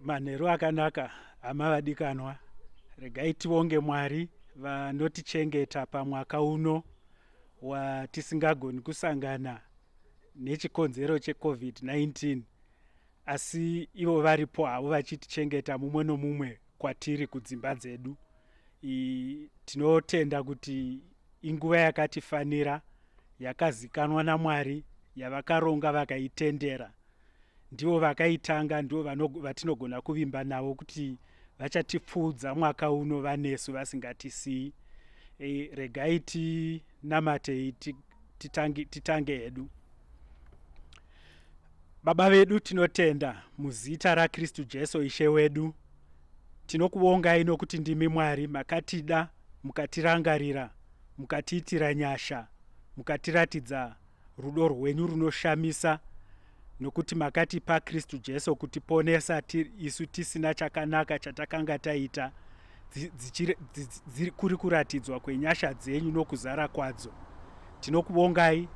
manheru akanaka hama vadikanwa regai tionge mwari vanotichengeta pamwaka uno watisingagoni kusangana nechikonzero checovid-19 asi ivo varipo havo vachitichengeta mumwe nomumwe kwatiri kudzimba dzedu tinotenda kuti inguva yakatifanira yakazikanwa namwari yavakaronga vakaitendera ndivo vakaitanga ndivo vatinogona kuvimba navo kuti vachatipfuudza mwaka uno vanesu vasingatisii e, regai tinamatei titange, titange hedu baba vedu tinotenda muzita rakristu jesu ishe wedu Tinokuvongai nokuti ndimi Mwari, makatida, mukatirangarira, mukatiitira nyasha, mukatiratidza rudo rwenyu runoshamisa, nokuti makatipa Kristu Jesu kutiponesa isu tisina chakanaka chatakanga taita, kuri kuratidzwa kwenyasha dzenyu nokuzara kwadzo. Tinokuvongai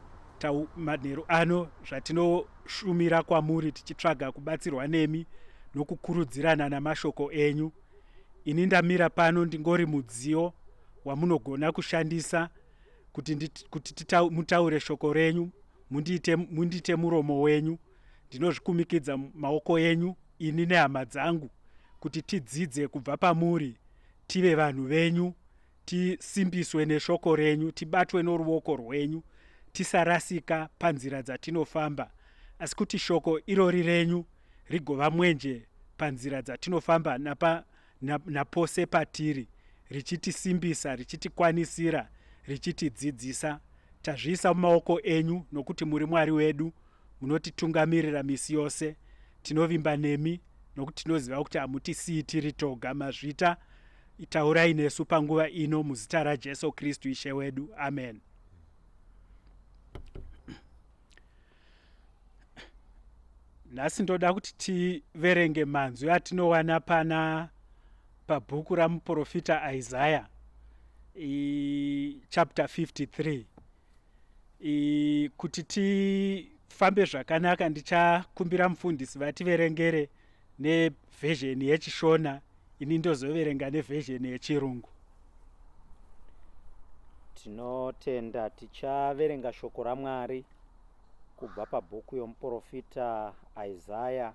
manheru ano zvatino kushumira kwamuri tichitsvaga kubatsirwa nemi nokukurudzirana namashoko enyu ini ndamira pano ndingori mudziyo wamunogona kushandisa kuti, kuti tita, mutaure shoko renyu mundiite, mundiite muromo wenyu ndinozvikumikidza maoko enyu ini nehama dzangu kuti tidzidze kubva pamuri tive vanhu venyu tisimbiswe neshoko renyu tibatwe noruoko rwenyu tisarasika panzira dzatinofamba asi kuti shoko irori renyu rigova mwenje panzira dzatinofamba napa, na, napose patiri richitisimbisa richitikwanisira richitidzidzisa tazviisa mumaoko enyu nokuti muri mwari wedu munotitungamirira misi yose tinovimba nemi nokuti tinoziva kuti hamutisiyi tiri toga mazvita Taurai nesu panguva ino muzita raJesu Kristu Ishe wedu. Amen. Nhasi ndoda kuti tiverenge manzwi atinowana pana pabhuku ramuprofita Isaya chapter 53 I, kuti tifambe zvakanaka ndichakumbira mufundisi vativerengere nevhezheni yechishona ini ndozoverenga nevhezheni yechirungu tinotenda tichaverenga shoko ramwari kubva pabhuku yomuprofita isaya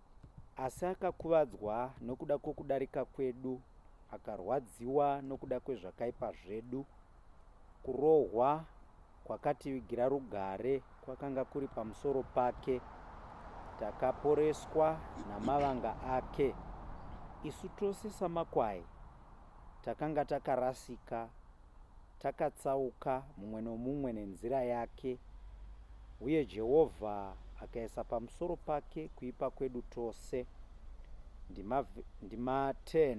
Asi akakuvadzwa nokuda kwokudarika kwedu, akarwadziwa nokuda kwezvakaipa zvedu. Kurohwa kwakativigira rugare kwakanga kuri pamusoro pake, takaporeswa namavanga ake. Isu tose samakwai takanga takarasika Takatsauka mumwe nomumwe nenzira yake, uye Jehovha akaisa pamusoro pake kuipa kwedu tose. Ndima, ndima 10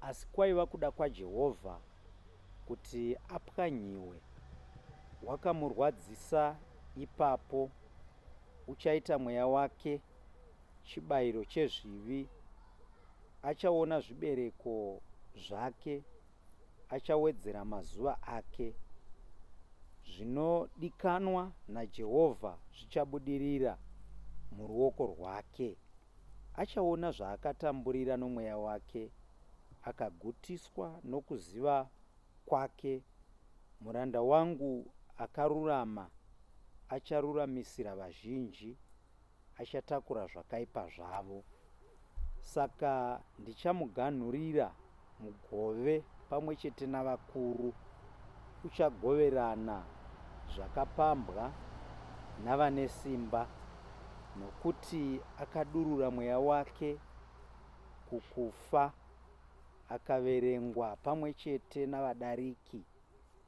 Asi kwaiva kuda kwaJehovha kuti apwanyiwe. Wakamurwadzisa ipapo, uchaita mweya wake chibayiro chezvivi, achaona zvibereko zvake, achawedzera mazuva ake. Zvinodikanwa naJehovha zvichabudirira muruoko rwake. Achaona zvaakatamburira nomweya wake, akagutiswa nokuziva kwake. Muranda wangu akarurama acharuramisira vazhinji. achatakura zvakaipa zvavo. Saka ndichamuganhurira mugove pamwe chete navakuru, uchagoverana zvakapambwa navane simba, nokuti akadurura mweya wake kukufa, akaverengwa pamwe chete navadariki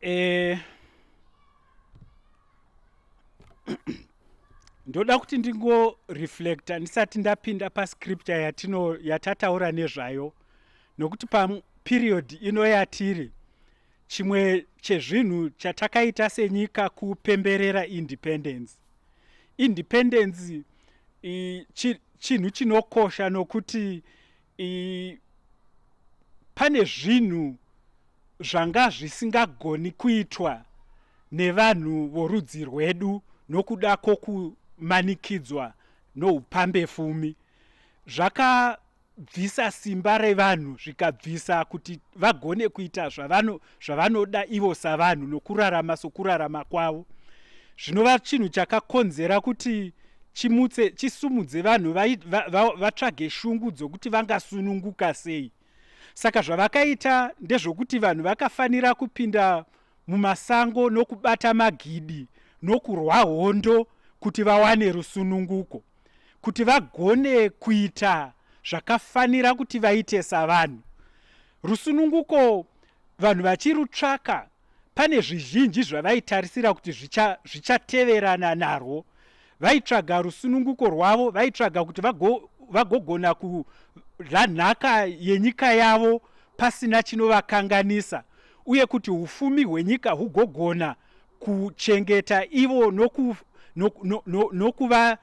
Eh, ndoda kuti ndingoreflecta ndisati ndapinda pascripture yatino yatataura nezvayo nokuti paperiod ino yatiri chimwe chezvinhu chatakaita senyika kupemberera independence independence chinhu chinokosha nokuti pane zvinhu zvanga zvisingagoni kuitwa nevanhu vorudzi rwedu nokuda kwokumanikidzwa noupambe fumi zvakabvisa simba revanhu zvikabvisa kuti vagone kuita zvavano zvavanoda ivo savanhu nokurarama sokurarama kwavo zvinova chinhu chakakonzera kuti chimutse chisumudze vanhu vatsvage shungu dzokuti vangasununguka sei saka zvavakaita ndezvokuti vanhu vakafanira kupinda mumasango nokubata magidi nokurwa hondo kuti vawane rusununguko kuti vagone kuita zvakafanira kuti vaite savanhu Rusununguko vanhu vachirutsvaka pane zvizhinji zvavaitarisira kuti zvichateverana zvicha narwo vaitsvaga rusununguko rwavo vaitsvaga kuti vagogona vago kudla nhaka yenyika yavo pasina chinovakanganisa uye kuti ufumi hwenyika hugogona kuchengeta ivo nokuva no, no, no, no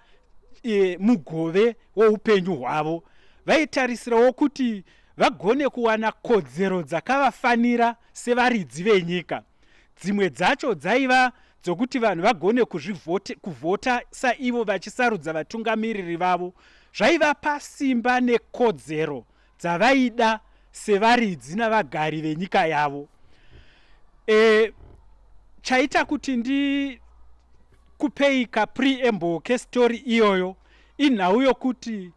e, mugove woupenyu hwavo vaitarisirawo kuti vagone kuwana kodzero dzakavafanira sevaridzi venyika. Dzimwe dzacho dzaiva dzokuti vanhu vagone kuvhota saivo vachisarudza vatungamiriri vavo zvaivapa simba nekodzero dzavaida sevaridzi navagari venyika yavo e, chaita kuti ndikupei kapreamble kestori iyoyo inhau yokuti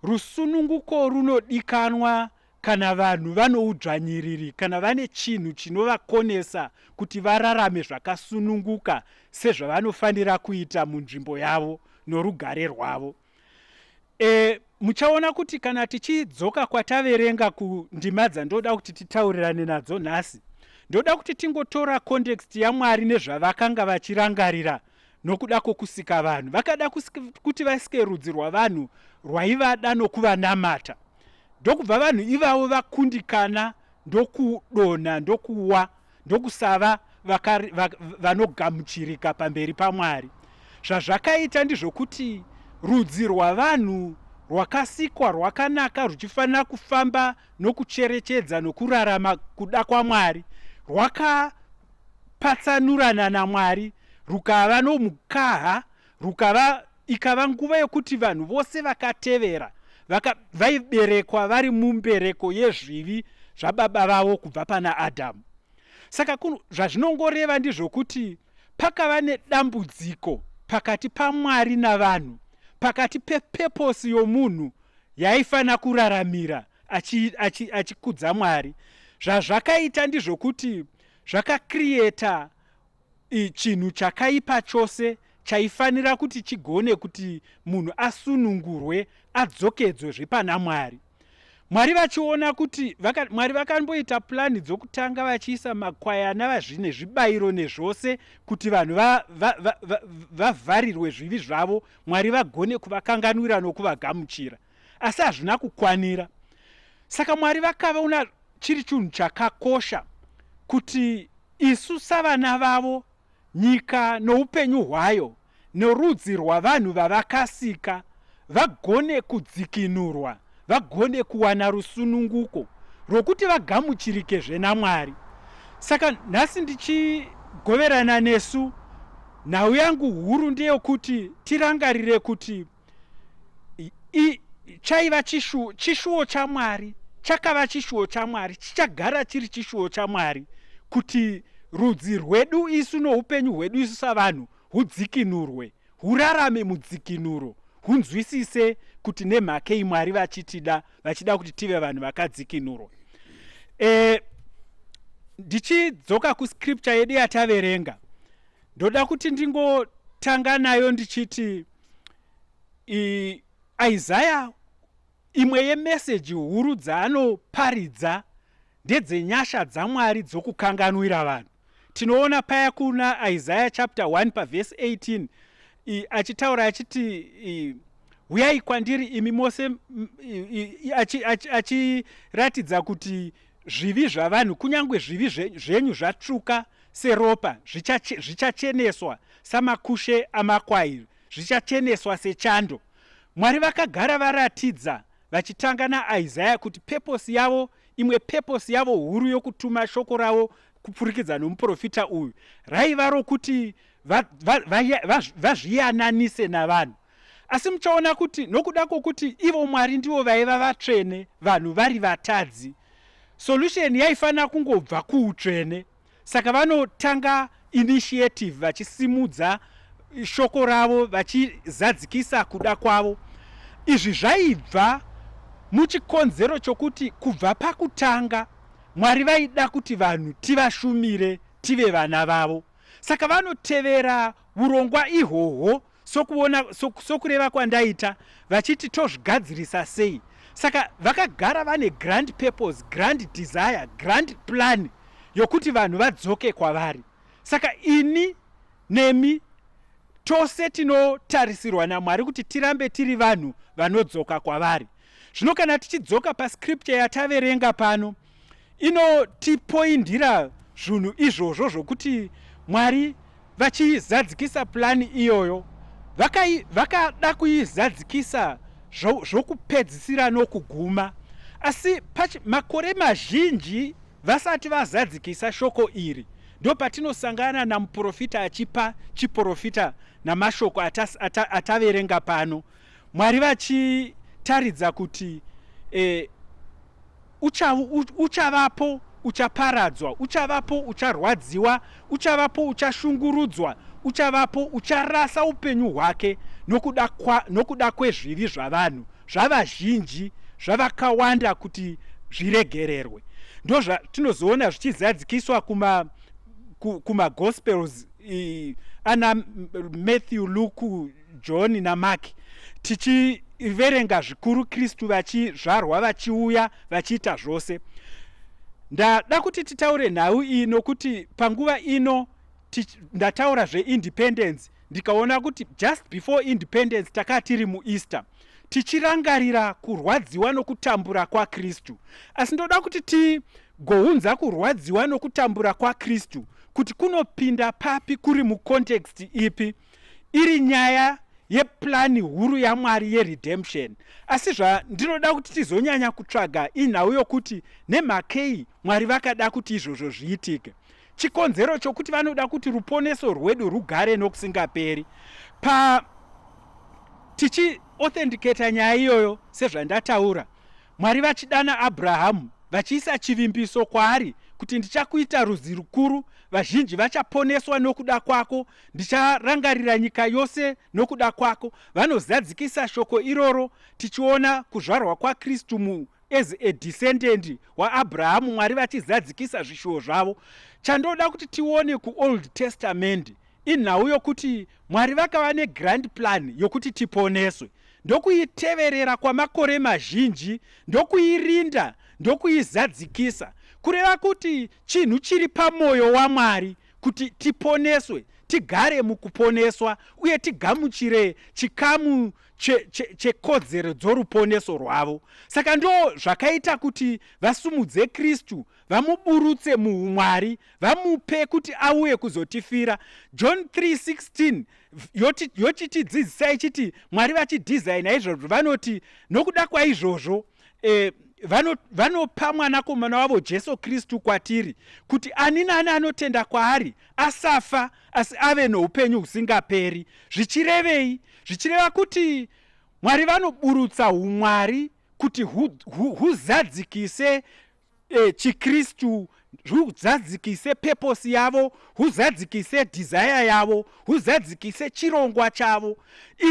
Rusununguko runodikanwa kana vanhu vanoudzvanyiriri kana vane chinhu chinovakonesa kuti vararame zvakasununguka sezvavanofanira kuita munzvimbo yavo norugare rwavo. E, muchaona kuti kana tichidzoka kwataverenga kundima dzandoda kuti titaurirane nadzo nhasi, ndoda kuti tingotora context yaMwari nezvavakanga vachirangarira Nokuda kwokusika vanhu, vakada kuti vasike rudzi rwavanhu rwaivada nokuvanamata, ndokubva vanhu ivavo vakundikana ndokudonha ndokuwa ndokusava vanogamuchirika pamberi paMwari. Zvazvakaita ndizvokuti rudzi rwavanhu rwakasikwa rwakanaka ruchifanira kufamba nokucherechedza nokurarama kuda kwaMwari rwaka Patsanurana naMwari rukava nomukaha rukava ikava nguva yokuti vanhu vose vakatevera vaka, vaiberekwa vari mumbereko yezvivi zvababa vavo kubva pana Adhamu. Saka kuno zvazvinongoreva ndizvokuti pakava nedambudziko pakati paMwari navanhu, pakati pepeposi yomunhu yaifanira kuraramira achikudza achi, achi Mwari. Zvazvakaita ndizvokuti zvakacreata chinhu chakaipa chose chaifanira kuti chigone kuti munhu asunungurwe adzokedzwe zvepana mwari mwari vachiona kuti vaka, mwari vakamboita pulani dzokutanga vachiisa makwayana vazvine zvibayiro nezvose kuti vanhu vavharirwe va, va, va, zvivi zvavo mwari vagone kuvakanganwira nokuvagamuchira asi hazvina kukwanira saka mwari vakavaona chiri chinhu chakakosha kuti isu savana vavo nyika noupenyu hwayo norudzi rwavanhu vavakasika vagone kudzikinurwa vagone kuwana rusununguko rwokuti vagamuchirike zvenamwari saka nhasi ndichigoverana nesu nhau yangu huru ndeyokuti tirangarire kuti chaiva chishuwo chishuwo chamwari chakava chishuwo chamwari chichagara chiri chishuwo chamwari kuti rudzi rwedu isu noupenyu hwedu isu savanhu hudzikinurwe hurarame mudzikinuro hunzwisise kuti nemhakei mwari vachitida vachida kuti tive vanhu vakadzikinurwa e, ndichidzoka kuscripture yedu yataverenga ndoda kuti ndingotanga nayo ndichiti Isaya imwe yemeseji huru dzaanoparidza ndedzenyasha dzaMwari dzokukanganwira vanhu. Tinoona paya kuna Isaya chapter 1 pavhesi 18 achitaura achiti huyai kwandiri imi mose achiratidza kuti zvivi zvavanhu kunyange zvivi zvenyu zvatsvuka seropa zvichacheneswa samakushe amakwai, zvichacheneswa sechando. Mwari vakagara varatidza vachitanga naIsaya kuti peposi yavo, imwe peposi yavo huru yokutuma shoko ravo kupfurikidza nomuprofita uyu, raiva rokuti vazviyananise va, va, va, navanhu. Asi muchaona kuti nokuda kwokuti ivo Mwari ndivo vaiva vatsvene, vanhu vari vatadzi, solution yaifanira kungobva kuutsvene. saka vanotanga initiative vachisimudza shoko ravo vachizadzikisa kuda kwavo izvi zvaibva muchikonzero chokuti kubva pakutanga mwari vaida kuti vanhu tivashumire tive vana vavo saka vanotevera urongwa ihwohwo sokuona sokureva kwandaita vachiti tozvigadzirisa sei saka vakagara vane grand purpose grand desire grand plan yokuti vanhu vadzoke kwavari saka ini nemi tose tinotarisirwa namwari kuti tirambe tiri vanhu vanodzoka kwavari zvino kana tichidzoka pascripture yataverenga pano inotipoindira zvunhu izvozvo zvokuti mwari vachizadzikisa pulani iyoyo vakada kuizadzikisa zvokupedzisira nokuguma asi makore mazhinji vasati vazadzikisa shoko iri ndo patinosangana namuprofita achipa chiprofita namashoko ataverenga ata, ata pano mwari vachitaridza kuti eh, Ucha, u, uchavapo uchaparadzwa, uchavapo ucharwadziwa, uchavapo uchashungurudzwa, uchavapo ucharasa upenyu hwake nokuda, kwa, nokuda kwezvivi zvavanhu zvavazhinji zvavakawanda kuti zviregererwe ndozvatinozoona zvichizadzikiswa kuma kumagospels ana matthew luke John naMark tichiverenga zvikuru Kristu vachizvarwa vachiuya vachiita zvose. Ndada kuti titaure nhau iyi nokuti panguva ino ndataura zveindependence ndikaona kuti just before independence takaa tiri mueaster tichirangarira kurwadziwa nokutambura kwakristu asi ndoda kuti tigounza kurwadziwa nokutambura kwakristu kuti kunopinda papi kuri mucontext ipi iri nyaya yeplani huru yamwari yeredemption asi zvandinoda kuti tizonyanya kutsvaga inhau yokuti nemhakei mwari vakada kuti izvozvo zviitike chikonzero chokuti vanoda kuti ruponeso rwedu rugare nokusingaperi pa tichiauthenticata nyaya iyoyo sezvandataura mwari vachidana abrahamu vachiisa chivimbiso kwaari kuti ndichakuita rudzi rukuru vazhinji vachaponeswa nokuda kwako Ndicharangarira nyika yose nokuda kwako. Vanozadzikisa shoko iroro tichiona kuzvarwa kwaKristu mu as a descendant waabrahamu mwari vachizadzikisa zvishuwo zvavo chandoda kuti tione kuold testament inhau yokuti mwari vakava negrand plan yokuti tiponeswe ndokuiteverera kwamakore mazhinji ndokuirinda ndokuizadzikisa kureva kuti chinhu chiri pamwoyo wamwari kuti tiponeswe tigare mukuponeswa uye tigamuchire chikamu chekodzero che, che dzoruponeso rwavo saka ndo zvakaita kuti vasumudze kristu vamuburutse muumwari vamupe kuti auye kuzotifira john 316 yochitidzidzisa yoti, ichiti mwari vachidhizaina izvozvo vanoti nokuda kwaizvozvo e, vanopa mwanakomana wavo jesu kristu kwatiri kuti ani nani anotenda kwaari asafa asi ave noupenyu husingaperi zvichirevei zvichireva kuti mwari vanoburutsa umwari kuti huzadzikise e, chikristu huzadzikise purpose yavo huzadzikise desire yavo huzadzikise chirongwa chavo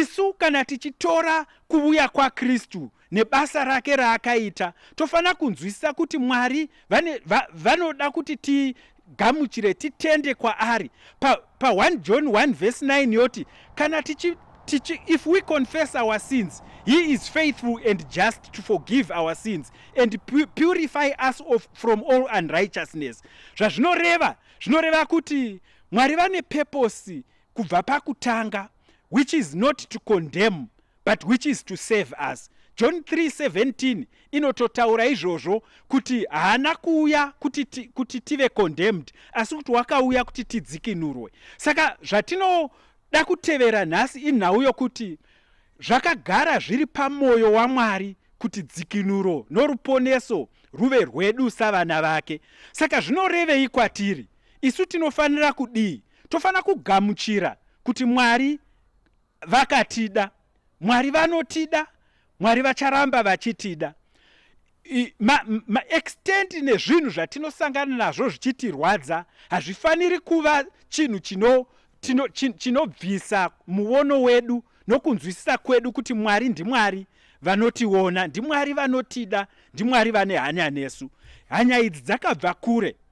isu kana tichitora kuvuya kwakristu nebasa rake raakaita tofanira kunzwisisa kuti mwari vane, va, vanoda kuti ti, tigamuchire titende kwaari pa, pa 1 john 1 vhesi 9 yoti kana tichi tichi if we confess our sins he is faithful and just to forgive our sins and pu purify us of, from all unrighteousness zvazvinoreva zvinoreva kuti mwari vane peposi kubva pakutanga which is not to condemn but which is to save us john 3:17 inototaura izvozvo kuti haana kuuya kuti, ti, kuti tive condemned asi kuti wakauya kuti tidzikinurwe saka zvatinoda kutevera nhasi inhau yokuti zvakagara zviri pamwoyo wamwari kuti dzikinuro noruponeso ruve rwedu savana vake saka zvinorevei kwatiri isu tinofanira kudii Tofanira kugamuchira kuti Mwari vakatida. Mwari vanotida, Mwari vacharamba vachitida. Maextendi ma, ma nezvinhu zvatinosangana nazvo zvichitirwadza hazvifaniri kuva chinhu chinobvisa chino, muono wedu nokunzwisisa kwedu kuti Mwari ndiMwari vanotiona, ndiMwari vanotida, ndiMwari vane hanya nesu. Hanya idzi dzakabva kure.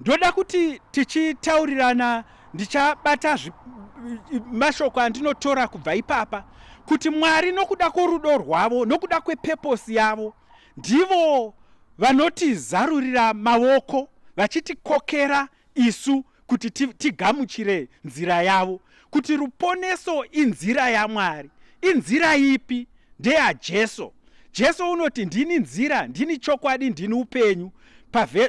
ndoda kuti tichitaurirana ndichabata mashoko andinotora kubva ipapa kuti mwari nokuda kworudo rwavo nokuda kwepeposi yavo ndivo vanotizarurira maoko vachitikokera isu kuti tigamuchire nzira yavo kuti ruponeso inzira yamwari inzira ipi ndeyajesu jesu unoti ndini nzira ndini chokwadi ndini upenyu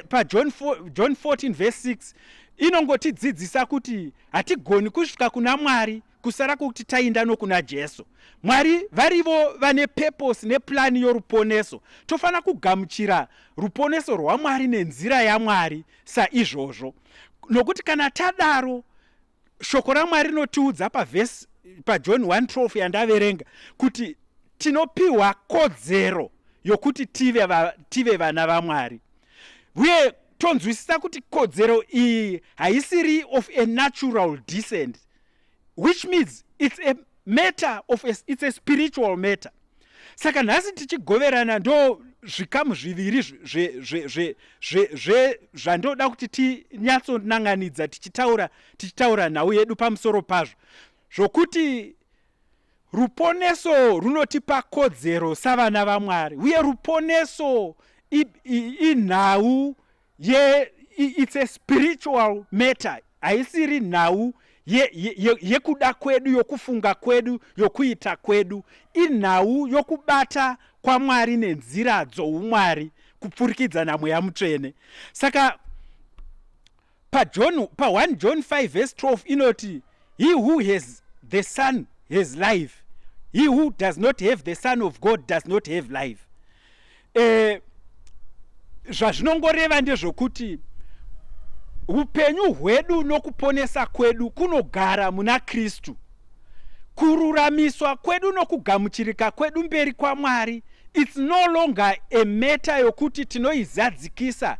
pajohn pa 14 vese 6 inongotidzidzisa kuti hatigoni kusvika kuna mwari kusara kwokuti tainda nokuna jesu mwari varivo vane peposi nepulani yoruponeso tofanira kugamuchira ruponeso rwamwari nenzira yamwari saizvozvo nokuti kana tadaro Shoko raMwari rinotiudza pavhesi paJohn 1:12 yandaverenga kuti tinopiwa kodzero yokuti tive, va, tive vana vaMwari uye tonzwisisa kuti kodzero iyi haisiri of a natural descent which means it's a matter of a, it's a spiritual matter saka nhasi tichigoverana ndo zvikamu zviviri zvandoda kuti tinyatsonanganidza tichitaura tichitaura nhau yedu pamusoro pazvo zvokuti ruponeso runotipa kodzero savana vamwari uye ruponeso inhau ye it's a spiritual matter haisiri nhau yekuda ye, ye, ye kwedu yokufunga kwedu yokuita kwedu inhau yokubata kwamwari nenzira dzoumwari kupfurikidza namweya mutsvene saka pajohn pa 1 john 5 vese 12 inoti he who has the son has life he who does not have the son of god does not have life eh, zvazvinongoreva ndezvokuti upenyu hwedu nokuponesa kwedu kunogara muna kristu kururamiswa kwedu nokugamuchirika kwedu mberi kwamwari its no longer a meta yokuti tinoizadzikisa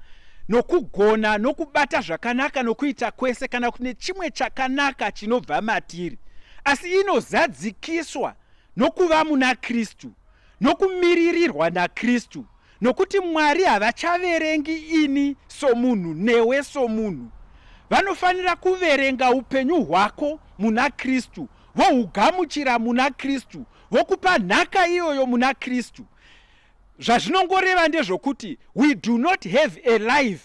nokugona nokubata zvakanaka nokuita kwese kana kuti nechimwe chakanaka chinobva matiri asi inozadzikiswa nokuva muna kristu nokumiririrwa naKristu, nokuti Mwari havachaverengi ini somunhu newe somunhu. Vanofanira kuverenga upenyu hwako muna Kristu, vohugamuchira muna Kristu, vokupa nhaka iyoyo muna Kristu. Zvazvinongoreva ndezvokuti we do not have a life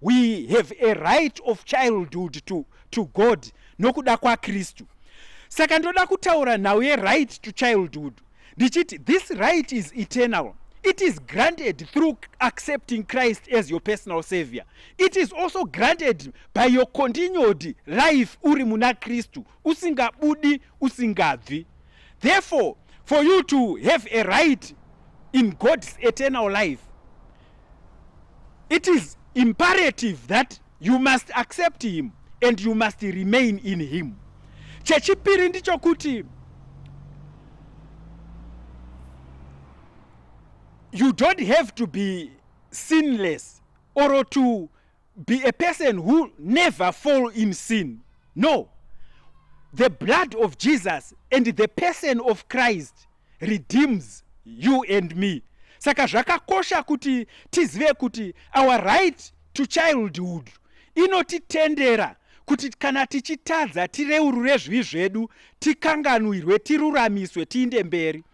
We have a right of childhood to, to God nokuda kwaKristu. Saka ndoda kutaura nhau yeright to childhood ndichiti this right is eternal it is granted through accepting christ as your personal savior it is also granted by your continued life uri muna kristu usingabudi usingabvi therefore for you to have a right in god's eternal life it is imperative that you must accept him and you must remain in him chechipiri ndichokuti you don't have to be sinless or to be a person who never fall in sin no the blood of jesus and the person of christ redeems you and me saka zvakakosha kuti tizive kuti our right to childhood inotitendera kuti kana tichitadza tireurure zvivi zvedu tikanganwirwe tiruramiswe tiinde mberi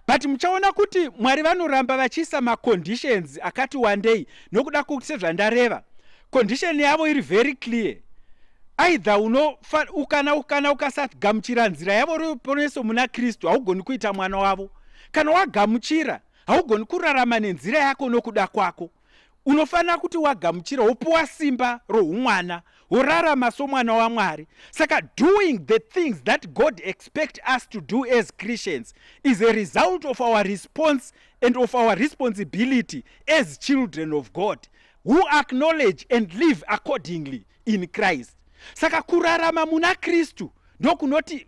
but muchaona kuti mwari vanoramba vachiisa maconditions akati wandei nokuda kwokuti sezvandareva condition yavo iri very clear aidha unofa ukana ukana ukasagamuchira nzira yavo ruponeso muna kristu haugoni kuita mwana wavo kana wagamuchira haugoni kurarama nenzira yako nokuda kwako unofanira kuti wagamuchira wopuwa simba roumwana worarama somwana wamwari saka doing the things that god expect us to do as christians is a result of our response and of our responsibility as children of god who acknowledge and live accordingly in christ saka kurarama muna kristu ndokunoti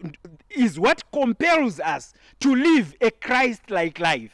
is what compels us to live a christ like life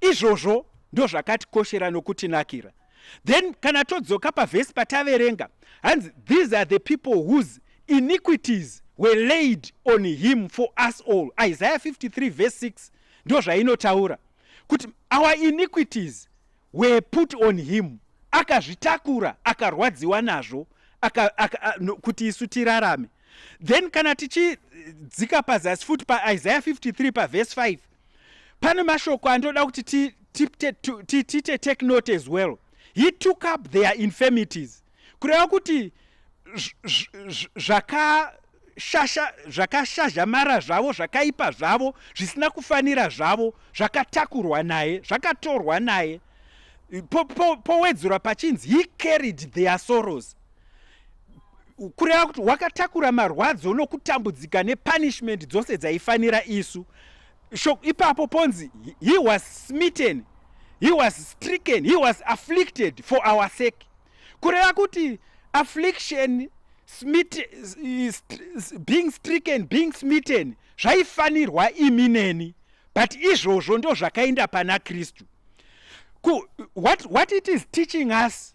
Izvozvo ndozvakatikoshera nokutinakira. Then kana todzoka pavhesi pataverenga hanzi these are the people whose iniquities were laid on him for us all isaiah 53 verse 6 ndo zvainotaura kuti our iniquities were put on him akazvitakura akarwadziwa nazvo aka, aka, a, no, kuti isu tirarame then kana tichidzika pazasi futi paisaiah 53 pavhesi 5 pane mashoko andoda kuti tiite ti, ti, ti, take note as well he took up their infirmities kureva kuti zvakashazhamara zvavo zvakaipa zvavo zvisina kufanira zvavo zvakatakurwa naye zvakatorwa naye powedzura pachinzi he carried their sorrows kureva kuti wakatakura marwadzo nokutambudzika nepunishment dzose dzaifanira isu so ipapo ponzi he was smitten he was stricken he was afflicted for our sake kureva kuti affliction smit, st, being stricken being smitten zvaifanirwa imi neni but izvozvo ndozvakaenda pana kristu what, what it is teaching us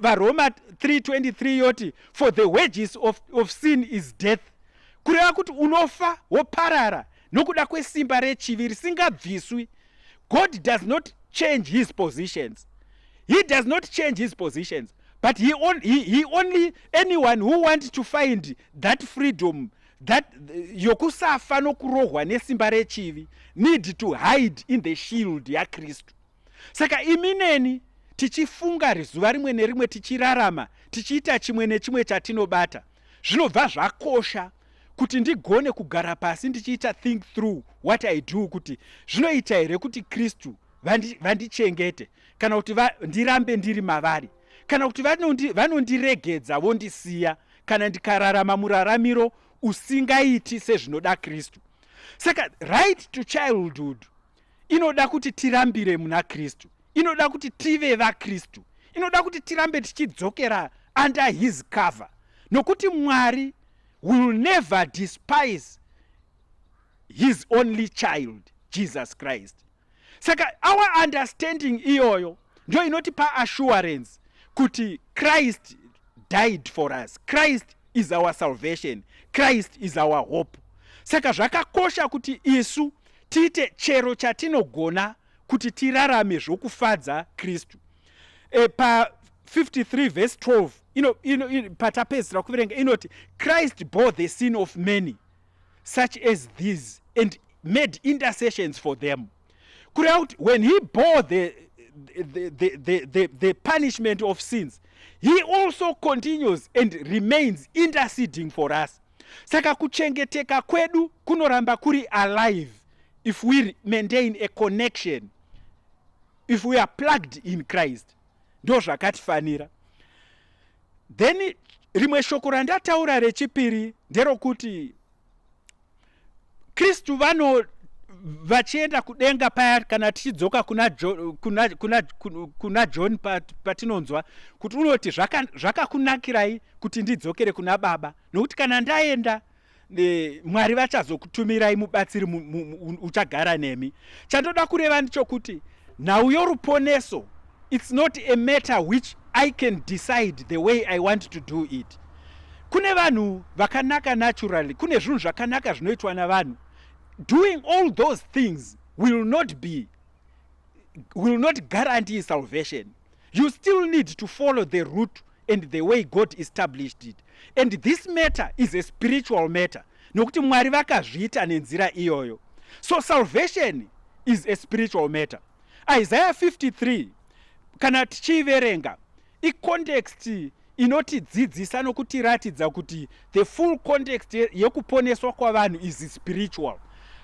varoma 323 yoti for the wages of, of sin is death kureva kuti unofa woparara nokuda kwesimba rechivi risingabviswi god does not change his positions he does not change his positions but he, on, he, he only anyone who want to find that freedom that yokusafa nokurohwa nesimba rechivi need to hide in the shield yakristu saka imi neni tichifunga rizuva rimwe nerimwe tichirarama tichiita chimwe nechimwe chatinobata zvinobva zvakosha kuti ndigone kugara pasi ndichiita think through what i do kuti zvinoita here kuti kristu vandichengete vandi kana kuti va, ndirambe ndiri mavari kana kuti vanondiregedza vanondi vondisiya kana ndikararama muraramiro usingaiti sezvinoda kristu saka right to childhood inoda kuti tirambire muna kristu inoda kuti tive vakristu inoda kuti tirambe tichidzokera under his cover nokuti mwari will never despise his only child jesus christ saka our understanding iyoyo ndio inotipa assurance kuti christ died for us christ is our salvation christ is our hope saka zvakakosha kuti isu tiite chero chatinogona kuti tirarame zvokufadza kristu e, pa 53 vhesi 12 ino, ino, ino, patapedzisira kuverenga inoti christ bore the sin of many such as these and made intercessions for them kureva kuti when he bore the, the, the, the, the, the punishment of sins he also continues and remains interceding for us saka kuchengeteka kwedu kunoramba kuri alive if we maintain a connection if we are plugged in christ ndo zvakatifanira then rimwe shoko randataura rechipiri nderokuti kristu vano vachienda kudenga paya kana tichidzoka kuna, jo, kuna, kuna, kuna john patinonzwa pat kuti unoti zvakakunakirai zvaka kuti ndidzokere kuna baba nokuti kana ndaenda e, mwari vachazokutumirai mubatsiri uchagara nemi chandoda kureva ndichokuti Nhau yoruponeso it's not a matter which I can decide the way I want to do it. Kune vanhu vakanaka naturally, kune zvinhu zvakanaka zvinoitwa navanhu. Doing all those things will not be will not guarantee salvation. You still need to follow the root and the way God established it. And this matter is a spiritual matter. Nokuti Mwari vakazviita nenzira iyoyo. So salvation is a spiritual matter. Isaiah 53 kana tichiiverenga icontext inotidzidzisa nokutiratidza kuti the full context yekuponeswa kwavanhu is spiritual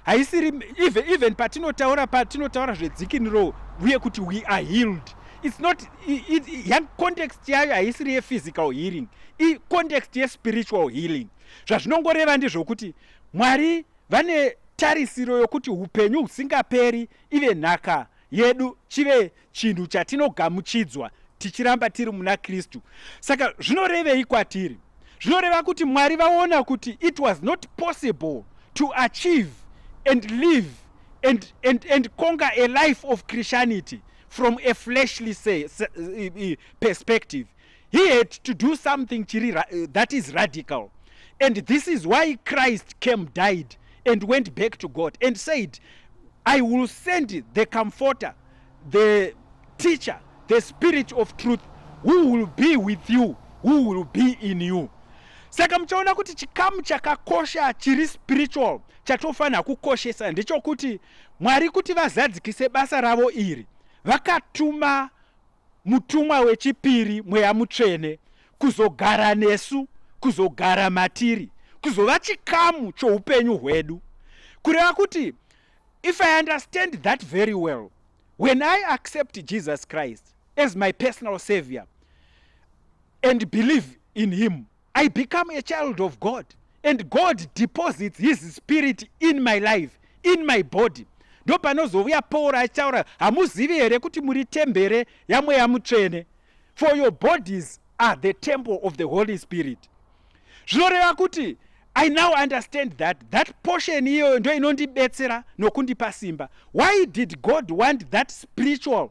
haisiri even, even patinotaura patinotaura zvedzikiniro uye kuti we are healed its not young context yayo haisiri yephysical healing icontext yespiritual healing zvazvinongoreva ndezvokuti mwari vane tarisiro yokuti upenyu husingaperi ive nhaka yedu chive chinhu chatinogamuchidzwa tichiramba tiri muna kristu saka zvinorevei kwatiri zvinoreva kuti mwari vaona kuti it was not possible to achieve and live and, and, and conquer a life of christianity from a fleshly say, say, perspective he had to do something chiri ra, uh, that is radical and this is why christ came died and went back to god and said i will send the comforter the teacher the spirit of truth who will be with you who will be in you saka muchaona kuti chikamu chakakosha chiri spiritual chatofanira kukoshesa ndechokuti mwari kuti vazadzikise basa ravo iri vakatuma Mutumwa wechipiri, Mweya Mutsvene, kuzogara nesu, kuzogara matiri, kuzova chikamu choupenyu hwedu. Kureva kuti, if I understand that very well, when I accept Jesus Christ as my personal savior and believe in him, I become a child of God and God deposits his spirit in my life, in my body. Ndo panozovuya Paul achaura hamuzivi here kuti muri tembere yamweya mutsvene for your bodies are the temple of the Holy Spirit. Zvinoreva kuti I now understand that that portion iyoyo ndo inondibetsera nokundipa simba. Why did God want that spiritual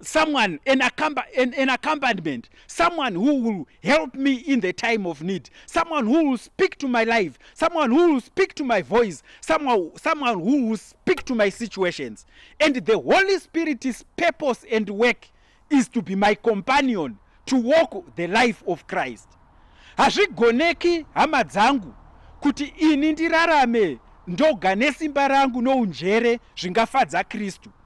someone an, accompa an, an accompaniment someone who will help me in the time of need someone who will speak to my life someone who will speak to my voice someone, someone who will speak to my situations and the holy spirit's purpose and work is to be my companion to walk the life of christ hazvigoneki hama dzangu kuti ini ndirarame ndoga nesimba rangu nounjere zvingafadza kristu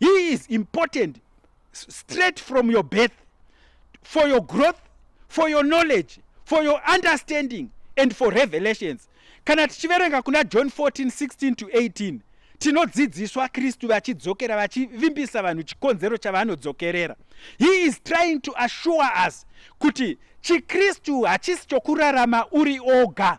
He is important straight from your birth for your growth, for your knowledge, for your understanding and for revelations. Kana tichiverenga kuna John 14, 16 to 18 tinodzidziswa kristu vachidzokera vachivimbisa vanhu chikonzero chavanodzokerera he is trying to assure us kuti chikristu hachisi chokurarama uri oga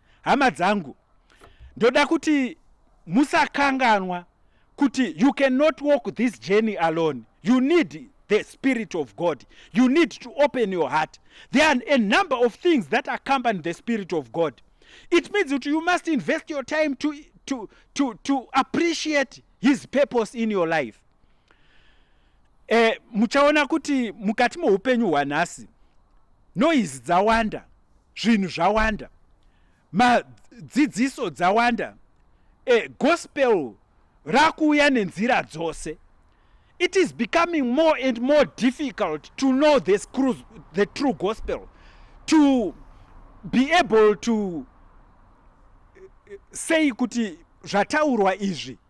hama dzangu ndoda kuti musakanganwa kuti you cannot walk this journey alone you need the spirit of god you need to open your heart there are a number of things that accompany the spirit of god it means that you must invest your time to, to, to, to appreciate his purpose in your life eh, muchaona kuti mukati moupenyu hwanhasi noise dzawanda zvinhu zvawanda madzidziso dzawanda e, gospel rakuuya nenzira dzose it is becoming more and more difficult to know the, screws, the true gospel to be able to eh, eh, say kuti zvataurwa izvi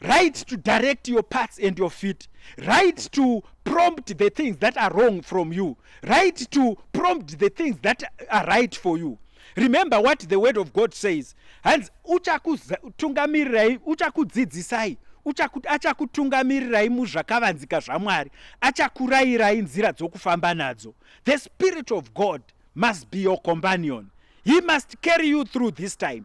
right to direct your parts and your feet right to prompt the things that are wrong from you right to prompt the things that are right for you remember what the word of god says hanzi uchakutungamirirai uchakudzidzisai achakutungamirirai muzvakavanzika zvamwari achakurayirai nzira dzokufamba nadzo the spirit of god must be your companion he must carry you through this time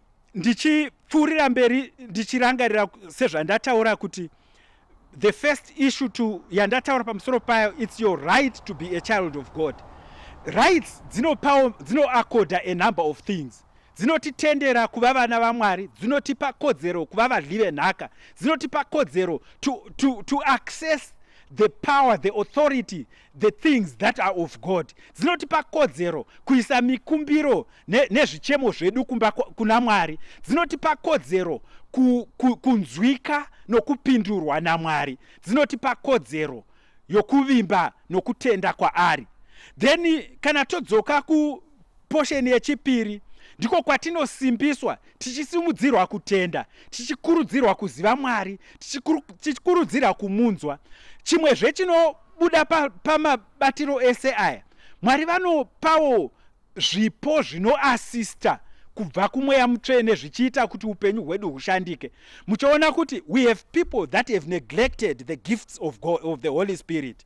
ndichipfuurira mberi ndichirangarira sezvandataura kuti the first issue to yandataura pamusoro payo its your right to be a child of god rights dzinopawo dzinoakoda a number of things dzinotitendera kuva vana vamwari dzinotipa kodzero kuva vadli venhaka dzinotipa kodzero to, to, to access the power the authority the things that are of god dzinotipa kodzero kuisa mikumbiro nezvichemo ne zvedu kumba kuna mwari dzinotipa kodzero ku, ku, kunzwika nokupindurwa namwari dzinotipa kodzero yokuvimba nokutenda kwaari then kana todzoka ku Posheni yechipiri ndiko kwatinosimbiswa tichisimudzirwa kutenda tichikurudzirwa kuziva mwari tichikurudzirwa kumunzwa chimwezve chinobuda pamabatiro pa ese aya mwari vanopawo zvipo zvinoasista kubva kumweya mutsvene zvichiita kuti upenyu hwedu hushandike muchiona kuti we have people that have neglected the gifts of, God, of the holy spirit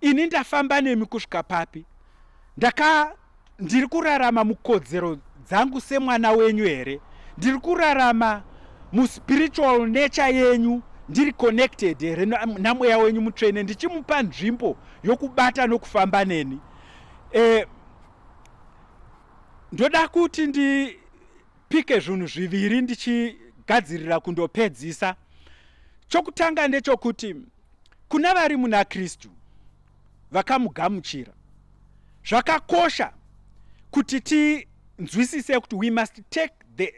Ini ndafamba nemi kusvika papi? Ndaka ndiri kurarama mukodzero dzangu semwana wenyu here? Ndiri kurarama muspiritual nature yenyu ndiri connected here namweya wenyu mutsvene ndichimupa nzvimbo yokubata nokufamba neni? Eh, ndoda kuti ndipike zvinhu zviviri ndichigadzirira kundopedzisa. Chokutanga ndechokuti Kuna vari muna Kristu vakamugamuchira, zvakakosha kuti tinzwisise kuti we must take the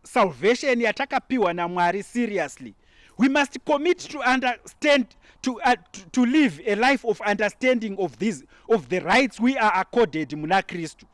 salvation yatakapiwa naMwari seriously. We must commit to understand to, uh, to, to live a life of understanding of these of the rights we are accorded muna Kristu.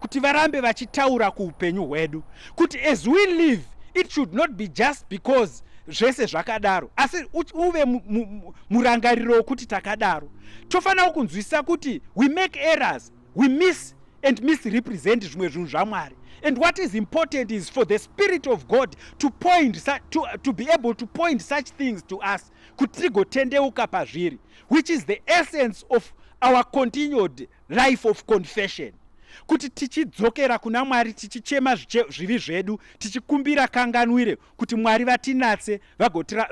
kuti varambe vachitaura kuupenyu hwedu kuti as we live it should not be just because zvese zvakadaro asi uve murangariro wokuti takadaro tofanira kunzwisisa kuti we make errors we miss and misrepresent zvimwe zvinhu zvamwari and what is important is for the spirit of god to point to, to be able to point such things to us kuti tigotendeuka pazviri which is the essence of our continued life of confession kuti tichidzokera kuna mwari tichichema zvivi zvedu tichikumbira kanganwire kuti mwari vatinatse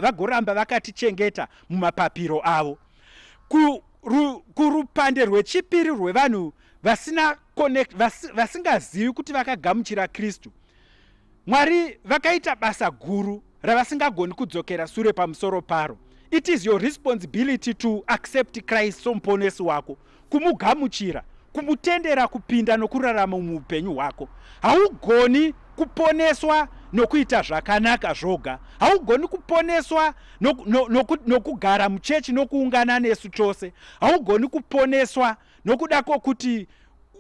vagoramba vakatichengeta mumapapiro avo kurupande rwechipiri rwevanhu vasina connect vasingazivi kuti vakagamuchira kristu Mwari vakaita basa guru ravasingagoni kudzokera sure pamusoro paro. It is your responsibility to accept Christ somuponesi wako, kumugamuchira, kumutendera kupinda nokurarama muupenyu hwako. Haugoni kuponeswa nokuita zvakanaka zvoga. Haugoni kuponeswa nokugara muchechi nokuungana nesu chose. Haugoni kuponeswa nokuda kwokuti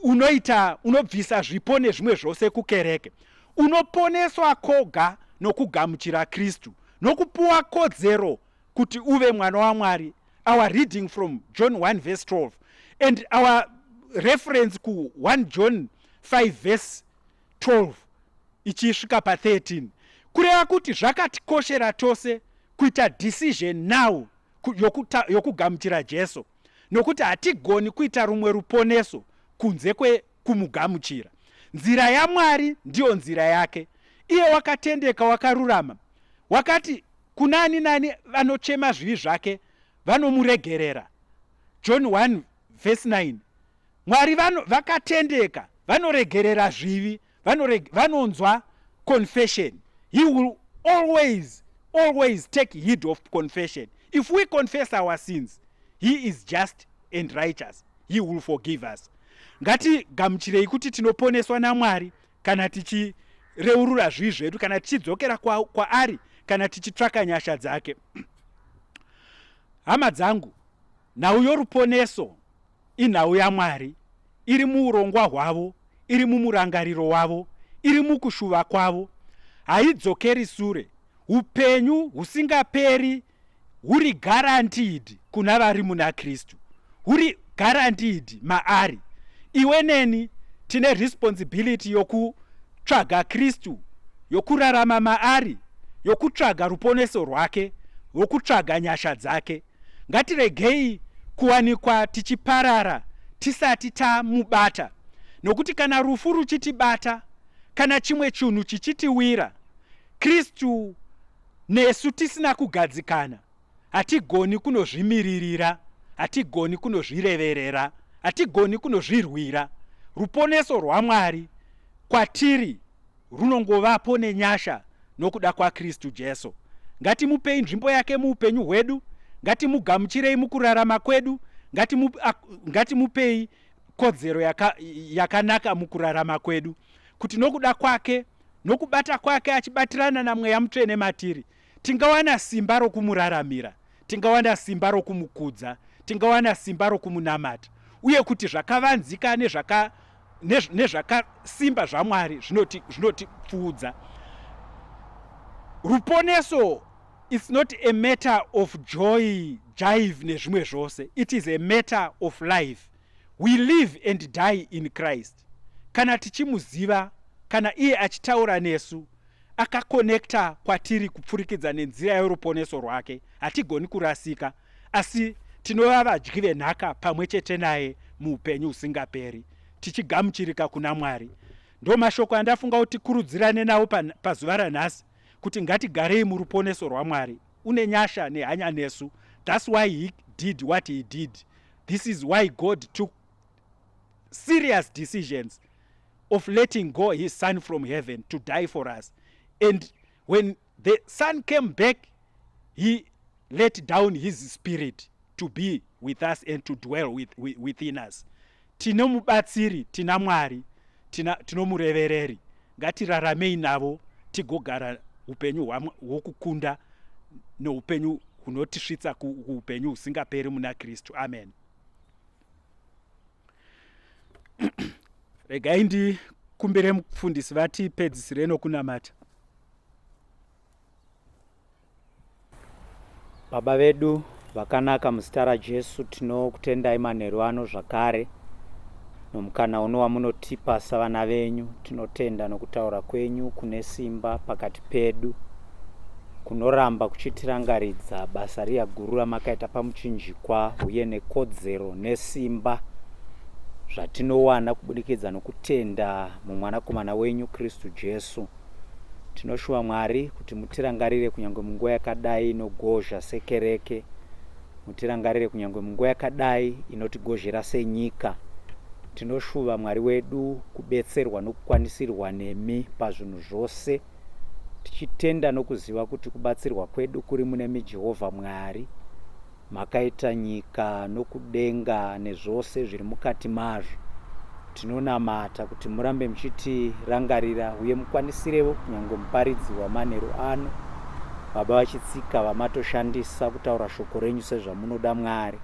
unoita unobvisa zvipo nezvimwe zvose kukereke unoponeswa koga nokugamuchira kristu nokupuwa kodzero kuti uve mwana wamwari our reading from john 1 verse 12 and our reference ku 1 john 5 verse 12 ichisvika pa 13 kureva kuti zvakatikoshera tose kuita decision now yokugamuchira jesu nokuti hatigoni kuita rumwe ruponeso kunze kwekumugamuchira. Nzira yaMwari ndiyo nzira yake. Iye wakatendeka, wakarurama, wakati kuna ani nani vanochema zvivi zvake vanomuregerera. John 1 vhesi 9 Mwari vano, vakatendeka vanoregerera zvivi vanoreg vanonzwa confession he will always always take heed of confession if we confess our sins he is just and righteous he will forgive us ngatigamuchirei kuti tinoponeswa namwari kana tichireurura zvii zvedu kana tichidzokera kwaari kwa kana tichitsvaka nyasha dzake hama dzangu nhau yoruponeso Inhau yaMwari, iri muurongwa hwavo, iri mumurangariro wavo, iri mukushuva kwavo. Haidzokeri sure. Upenyu husingaperi huri guaranteed kuna vari muna Kristu. Huri guaranteed maari. Iwe neni tine responsibility yokutsvaga Kristu, yokurarama maari, yokutsvaga ruponeso rwake, yokutsvaga nyasha dzake. ngatiregei kuwanikwa tichiparara tisati tamubata, nokuti kana rufu ruchitibata kana chimwe chinhu chichitiwira, Kristu nesu tisina kugadzikana, hatigoni kunozvimiririra, hatigoni kunozvireverera, hatigoni kunozvirwira. Ruponeso rwaMwari kwatiri runongovapo nenyasha nokuda kwaKristu Jesu. Ngatimupei nzvimbo yake muupenyu hwedu, ngatimugamuchirei mukurarama kwedu, ngatimu, ngatimupei kodzero yaka, yakanaka mukurarama kwedu, kuti nokuda kwake nokubata kwake achibatirana namweya mutsvene matiri Tingawana simba rokumuraramira, tingawana simba rokumukudza, tingawana simba rokumunamata, uye kuti zvakavanzika nezvaka, nez, nezvakasimba zvaMwari zvinotipfuudza. Ruponeso it's not a matter of joy jive nezvimwe zvose it is a matter of life we live and die in christ Christ kana tichimuziva kana iye achitaura nesu akakonekta kwatiri kupfurikidza nenzira yoruponeso rwake hatigoni kurasika asi tinova vadyi venhaka pamwe chete naye muupenyu husingaperi tichigamuchirika kuna mwari ndo mashoko andafunga kuti kurudzirane nawo pazuva ranhasi kuti ngatigarei muruponeso rwamwari une nyasha nehanya nesu thats why he did what he did this is why god took serious decisions of letting go his son from heaven to die for us and when the son came back he let down his spirit to be with us and to dwell with, with, within us tine mubatsiri tina mwari tinomurevereri ngatiraramei navo tigogara upenyu hwokukunda neupenyu hunotisvitsa kuupenyu husingaperi muna kristu amen regai ndikumbire mufundisi vatipedzisire nokunamata baba vedu vakanaka muzita rajesu tinokutendai manheru ano zvakare nomukana uno wamunotipa savana venyu Tinotenda nokutaura kwenyu kune simba pakati pedu kunoramba kuchitirangaridza basa riya guru ramakaita pamuchinjikwa uye nekodzero nesimba zvatinowana kubudikidza nokutenda mumwanakomana wenyu kristu jesu tinoshuva mwari kuti mutirangarire kunyange munguva yakadai inogozha sekereke Mutirangarire kunyangwe munguva yakadai inotigozhera senyika. Tinoshuva Mwari wedu kubetserwa nokukwanisirwa nemi pazvinhu zvose, tichitenda nokuziva kuti kubatsirwa kwedu kuri munemi Jehovha Mwari, makaita nyika nokudenga nezvose zviri mukati mazvo. Tinonamata kuti murambe muchitirangarira uye mukwanissirevo kunyange muparidzi wamanheru ano, Baba vachitsika vamatoshandisa kutaura shoko renyu sezvamunoda Mwari.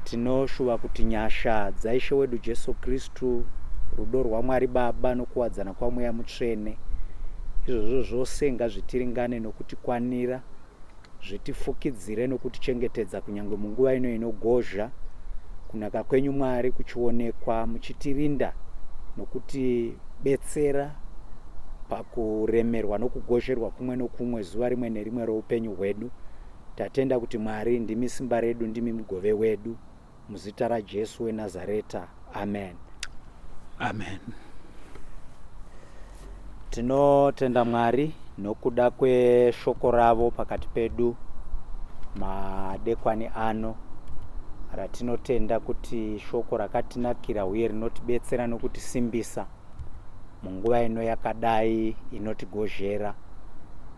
Tinoshuva kuti nyasha dzaIshe wedu Jesu Kristu, rudo rwaMwari Baba nokuwadzana kwaMweya Mutsvene, izvozvo zvose ngazvitiringane nokutikwanira Zvitifukidzire nokutichengetedza kunyange munguva ino inogozha, kunaka kwenyu Mwari kuchionekwa muchitirinda nokutibetsera pakuremerwa nokugozherwa kumwe nokumwe zuva rimwe nerimwe roupenyu hwedu. Tatenda kuti Mwari ndimi simba redu, ndimi mugove wedu. Muzita raJesu weNazareta, amen. Amen. Tinotenda Mwari nokuda kweshoko ravo pakati pedu madekwani ano ratinotenda kuti shoko rakatinakira uye rinotibetsera nokutisimbisa munguva ino yakadai inotigozhera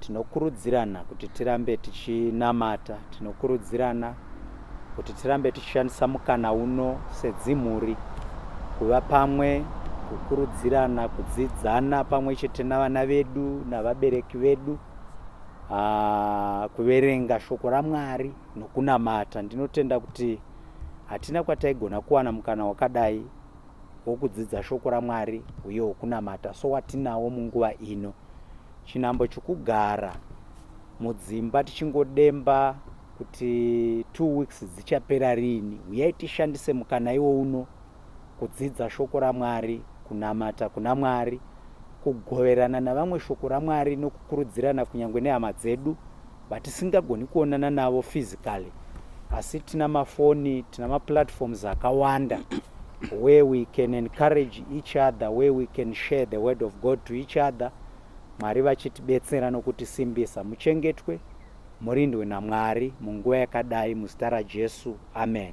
tinokurudzirana kuti tirambe tichinamata tinokurudzirana kuti tirambe tichishandisa mukana uno sedzimhuri kuva pamwe kukurudzirana kudzidzana pamwe chete navana vedu navabereki vedu ah, kuverenga shoko ramwari nokunamata ndinotenda kuti hatina kwataigona kuwana mukana wakadai wokudzidza shoko ramwari uye wokunamata so watinawo munguva ino chinambo chokugara mudzimba tichingodemba kuti two weeks dzichapera rini huyai tishandise mukana iwo uno kudzidza shoko ramwari kunamata kuna mwari kugoverana navamwe shoko ramwari nokukurudzirana kunyange nehama dzedu vatisingagoni kuonana navo physically asi tina mafoni tina maplatforms akawanda where we can encourage each other where we can share the word of god to each other mwari vachitibetsera nokutisimbisa muchengetwe Murindwe naMwari munguva yakadai muzita raJesu Amen.